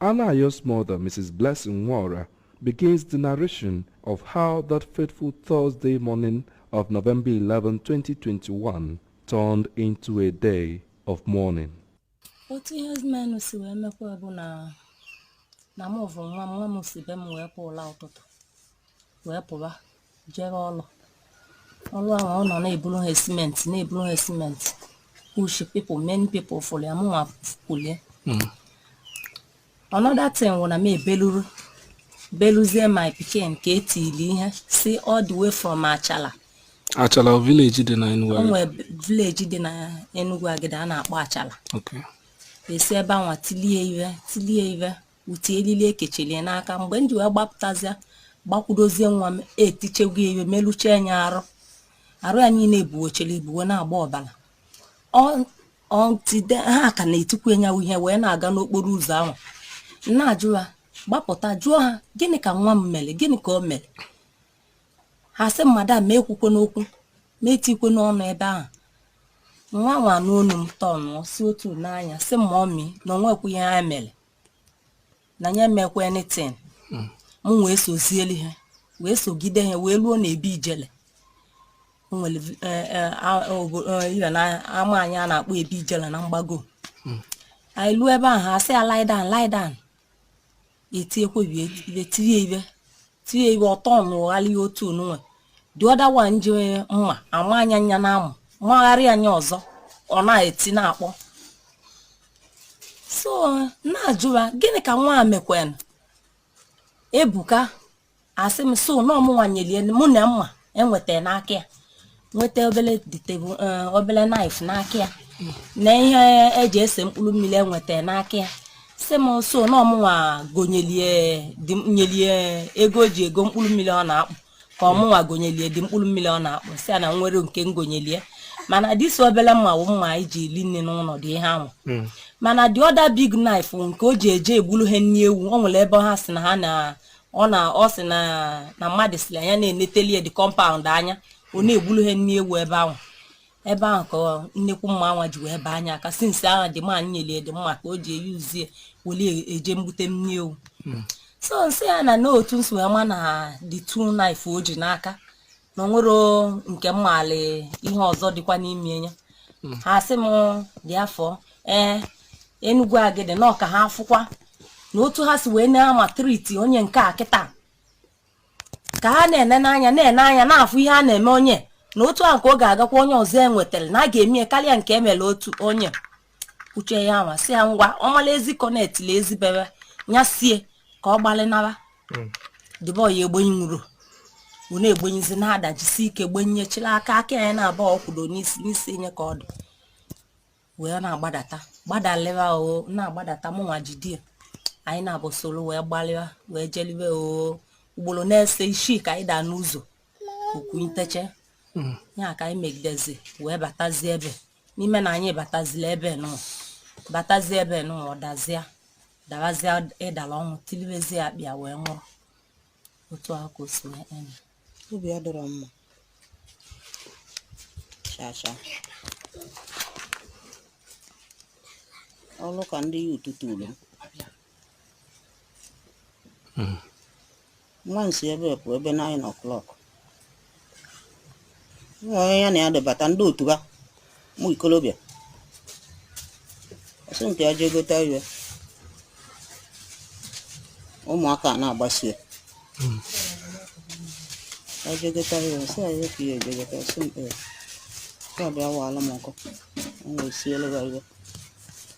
Anayo's mother, Mrs. Blessing Nwora, begins the narration of how that fateful Thursday morning of November 11, 2021 turned into a day of mourning. otu ihe menụ si wee mekwa bụ na mụ vụ nwa m nwa m si be m wee pụla ụtụtụ wee pụba jere ọlụ ọlụ ahụ ọ nọ na-eburu ha simenti na-eburu ha simenti push people many people fụlụ ya mụnwa kulie hmm. another thing wụ na m ebeluru beluzie my pikin ka e tili ihe si all the way from Achala Achala village dị na Enugwu o nwe village dị na Enugwu Agidi a na-akpọ Achala e si ebe anwa tilie ive tilie ive uti elili e kechilie n'aka mgbe m ji wee gbapụtazịa gbakwudozie nwa m etichegwu ya ive melụchee nya arụ arụ ya niile ebuwochiri ibuwe na-agba ọbala ọntide ha ka na-etikwu enyawu ihe wee na-aga n'okporo ụzọ ahụ na-ajụ ha gbapụta jụọ ha gịnị ka nwa m mele gịnị ka o mere ha sị m madam m ekwukwena okwu m etikwena ọnụ ebe ahụ nwa m wee nụ onu m tọnụọ si otu nee anya sị m mummy na o nwekwu ihe ya mele na ya emekwa anything m wee sozieli ha wee sogide ha wee luo na ebe ijele o nwere vi- eh, eh, a- eh, obo- eh, ihe na ama anyị a na-akpọ ebe ijele na mgbago anyị luo ebe ahụ ha sị ya lie down lie down i tinye kwebi ive tie nye ive tie nye ive ọ tọnụghalịa otu onunwe the other one ji mma ama anya nya n'amụ magharị anya ọzọ ọ na-eti na-akpọ so na-ajụwa gịnị ka nwa a mekwanụ Ebuka a sị m so na ọ mụnwa nyelie mụ na mma enweta n'aka ya nweta obele the table eh, obele knife n'aka ya na ihe e ji ese mkpụrụ mmiri enweta n'aka ya sị m so na ọ mụnwa gonyelie di m- nyelie ego o ji ego mkpụrụ mmiri ọ na-akpụ ka ọ mụnwa gonyelie the mkpụrụ mmiri ọ na-akpụ sị ya na o nwerọ nke m gonyelie mana this obele mma wụ mma anyị ji eli nni n'ụlọ dị ihe ahụ mana the other big knife nke o ji eje egburu ha nni ewu o nwere ebe ha sị na ha na ọ na ọ sị na na mmadụ sịlị nya na-eneteli ya the compound anya ọ na-egbulu ha nni ewu ebe ahụ ebe ahụ ka nnekwu mma anwa ji wee baa nya aka since ahụ the man nyelie the mma ka o ji eyi uzie weli eje mgbute nni ewu so m sị ya na n'otu m si wee ma na the two knife o ji n'aka na o nwerọ nke m maalị ihe ọzọ dịkwa n'ime ya ha sị m therefore ee Enugwu Agidi na ọka ha afụkwa na otu ha si wee na-amaltreat-i onye nke a kịta ka ha na-ene n'anya na-ene anya na-afụ ihe a na-eme onye na otu ahụ ka ọ ga-agakwa onye ọzọ e nwetara na a ga-eme ya karịa nke e mere otu onye uche ya nwa si ya ngwa ọmala ezi kọnet la ezi bebe ya sie ka ọ gbalịnara hmm. the boy a egbenyi nwụrụ ọ na-egbenyizi na-adajisi ike gbenye chịla aka aka ya na-aba ọkwụdo n'isi n'isi enye ka ọ dị wee na-agbadata gbadalịwa o na-agbadata mụnwa jidie anyị naabọ soro wee gbalịwa wee jeliwe o ugboro n'ise isii ka anyị daa n'ụzọ okwu nteche hmm. ya ka anyị megidezi wee batazie ebe n'ime na anyị batazila ebe ụnọ batazi ebe ụnọ ọ dazịa dawazịa ịdala ọnwụ tilibezie akpịa wee nwụrụ otu ahụ ka o si wee eme obi adọrọ mma chacha ọrụ ka ndị ya ụtụtụ ulu nwa m si ebe pụ ebe 9 o'clock nwa onye ya na ya debata ndị otu ha ụmụ ikolobịa ọ sị nke ya jee gote ife ụmụaka na-agbasie ya jee gote ife ọ sị ya efu ya eje gote ọ sị m ee ka bịa waala m nkụ m wee sielu ha ife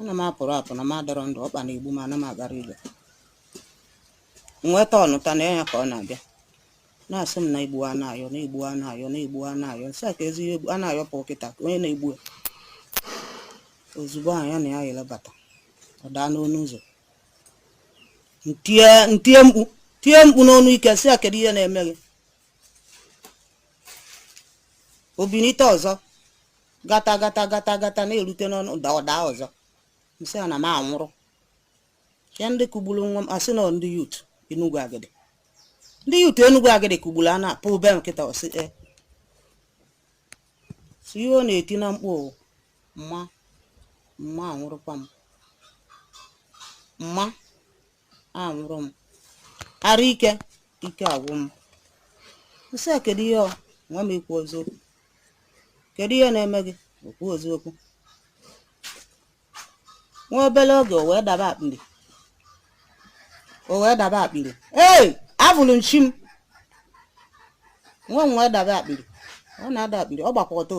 ana m apụrọ apụ na m adọrọ ndụ ọkpa na-egbu m ana m agarọ ije nweta ọ nụta na ya ka ọ na-abịa na-asị m na e gbua Anayọ na e gbua Anayọ na e gbua Anayọ m sị a kezi ihe Anayọ pụrụ kịta ka onye na-egbu ya ozugbo ahụ ya na ya yere bata ọ daa n'ọnụ ụzọ m tie m tie mkpu tie mkpu n'ọnụ ike sị ya kedu ihe na-eme gị o binite ọzọ gata gata gata gata na-erute n'ụnọ ọ daa ọ daa ọzọ m sị a na m anwụrụ ya ndị kụgburu nwa m ọ sị na ndị youth Enugu Agidi ndị youth Enugu Agidi kụgburu a na-apụ be nkịta ọ sị e si ihe ọ na-eti na mkpu mma mma anwụrụkwa m mma anwụrụ m arụ ike ike agwụ m m sị a kedu ihe ọ nwa m ikwu eziokwu kedu ihe na-eme gị okwu eziokwu nwa obere oge o wee daba akpịrị o wee daba akpịrị ee afụrụ m chi m nwa m wee daba akpịrị ọ na-ada akpịrị ọ gbakwa ọtọ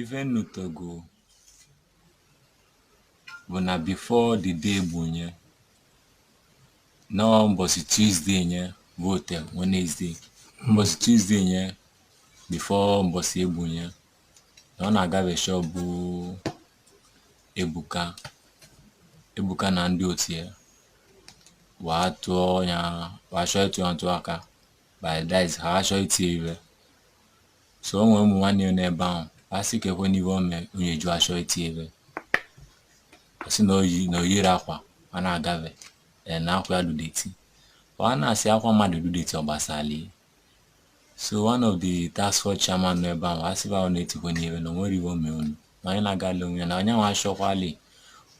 Ife m nụtago bụ na before the day egbu nye nọọ mbọsị Tuesday nye fote Wednesday mbọsị Tuesday nye before mbọsị egbu nye na ọ na-agabe shop bụ Ebuka Ebuka na ndị otu ya wee tụọ ya wee chọọ ịtụ ya ntụ aka by that is ha chọọ itie ife So o nwere ụmụ nwanyị nọ n'ebe ahụ a sị keekwanụ ihe o mee unu e ji achọ iti ya ive ọ sị na o yi na o yiri akwa a na-agafe ee na akwa ya dụ dirty ọ a na-asị akwa mmadụ dụ dirty ọ gbasalị so one of the task force chairman nọ ebe ahụ a sị ba unu etikwene ihe na o nwerọ ihe o mee unu na onye na-agala onwe ya na onye nwa achọkwali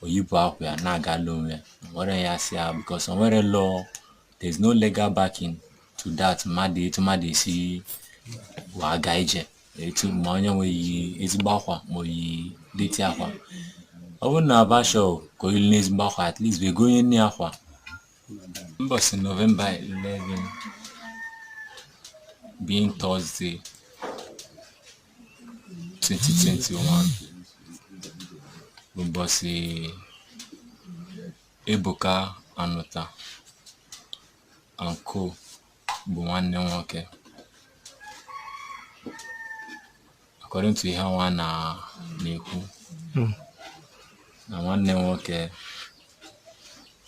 o yibe akwa ya na-agala onwe ya nwere ya si ya because o nwerọ law there's no legal backing to that mmadụ etu mmadụ esi waga ije etu ma onye nwee ezigbo akwa ma o yi dirty akwa ọ bụrụ na ba chọ ka o yilinụ ezigbo akwa at least wa egonyenụ akwa mbọsị November 11 being Thursday 2021 bụ mbọsị Ebuka Anụta Anko bụ nwanne nwoke according to ihe ha nwa na-ekwu hmm. na nwanne nwoke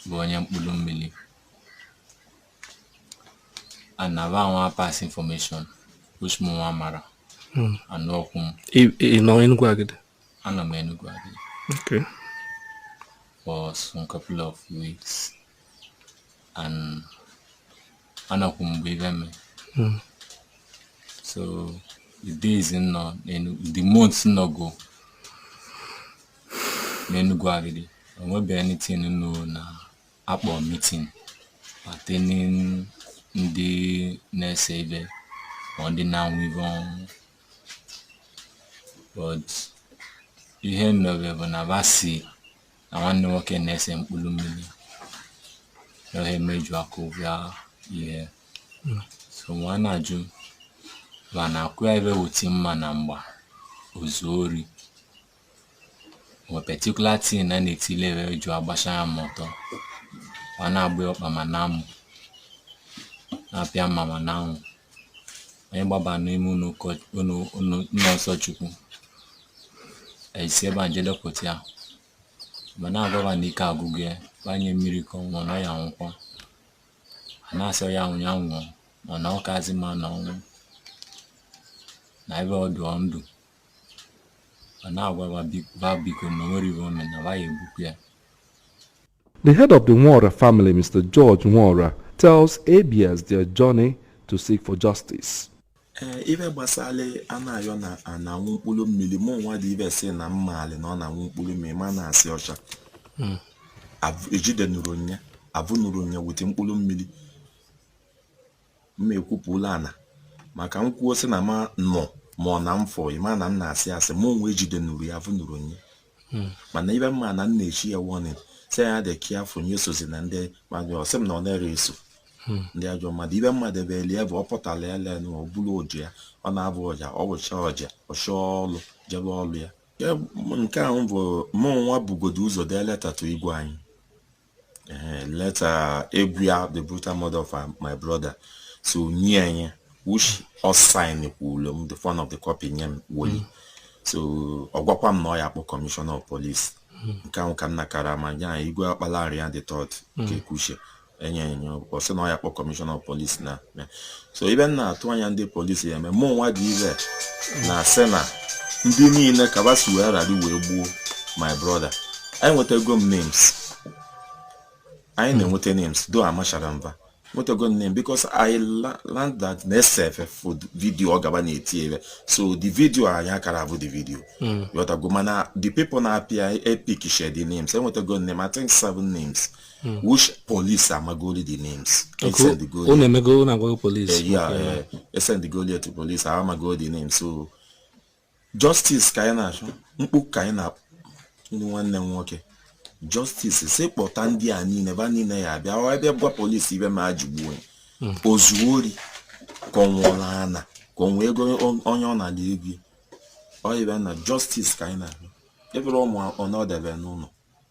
bụ onye mkpụrụ mmiri and na ba nwa pass information which mụ nwa amarọ hmm. and ọkwụ m ị nọ Enugu Agidi anọ m Enugu Agidi okay for some couple of weeks and anọkwọ m mgbe ive mee hmm. so the days m nọ the months m nọgo n'Enugu Agidi enwebeghị anything m nụ na a kpọrọ meeting pertaining ndị na-ese ive ma ndị na-anwụ ive ọnwụ but ihe m nụbe bụ na ba si na nwanne nwoke na-ese mkpụrụ mmiri ihe me e ji akụba ya ihe so nwa na-ajụ ba na akwụ ya ive wuti mma na mgba o zu ori O nwe particular thing na na-etile wee e ji agbacha ya ma ọtọ ma na-agba ya ọkpa ma n'amụ na-apịa mma ma na anwụ onye gbaba n'ime ụlọ ụkọ- ụlọ ụlọ ụlọ nsọ Chukwu e si ebe a je dọpụta ya ma na-agwa ba na ike agwụgo ya ba nye mmiri ka ọ nwụọ na ọ ya-anwụkwa a na-asị ya nwụ ya nwụọ na ọ kazi mma n'ọnwụ na ebe ọ dụ ndụ ọ na-agwa ba biko na o nwerọ ihe o mere na ba ya egbukwa ya The head of the Nwora family, Mr. George Nwora, tells ABS their journey to seek for justice. ee ive gbasalị Anayọ na ọ na-anwụ mkpụrụ mmiri mụ nwa dị ive sị na m malị na ọ na-anwụ mkpụrụ mmiri mana a sị ọcha Abụ- e jidenụrụ ya a vụnụrụ ya wete mkpụrụ mmiri m ekwupụla ana maka m kwuo sị na ma nọ ma ọ na m fọ ịma na m na-asị asị mụ nwa ejide nuru ya vụ nuru nye mana ive m ma na m na-echi ya warning sị ya dị careful ya esozina ndị mmadụ ọ sị m na ọ na-ere eso ndị ajọ mmadụ ibe mmadụ ebe elie bụ ọ pụtara ya lee na ọ bụrụ oji ya ọ na-avụ ọja ọ vụcha ọja ọ chọọ ọlụ jebe ọlụ ya Ya bụ- nke ahụ bụ mụ nwa bugodo ụzọ dee leta to igwe anyị eh, leta agwa ya the brutal murder of uh, my brother so nye anyị which ọ sign kwuru m the front of the copy nye m weli hmm. so ọ gwakwa m na ọ ya akpọ commissioner of police hmm. nke ahụ ka m nakara ma ya igwe Ọkpalariam the third hmm. Okekeuche enye enye ọ sị na ọ ya akpọ commissioner of police na so ive m na-atụ anya ndị police ya eme mụ nwa dị ire na-asị na ndị niile kabasi wee ghara wee gbuo my brother anyị nwetago m names anyị na-enweta names though amachara mba nwetago m name because I learned that na e sere full video ọ gaba na-eti ebe so the video anyị akara avụ the video hmm. ghọtago mana the people na-appear in picture the names enwetago name I think seven names hmm. which police amagoli the names unu emego unu agwago police eh, yeah eh, e sendgoli to police amagoli the names so justice ka anyị na-achọ mkpu ka anyị na ndị nwanne m nwoke justice si kpọta ndị a niile va niile ya abịa ọ ebe gwa police ive va ji gbuo hmm. o zuo ori ka ọ nwụọla ana ka ọ nwee ego onye ọ na-adị ego ọ ive na justice ka anyị na-abịa ebere ụmụ ọ na-edebe n'ụlọ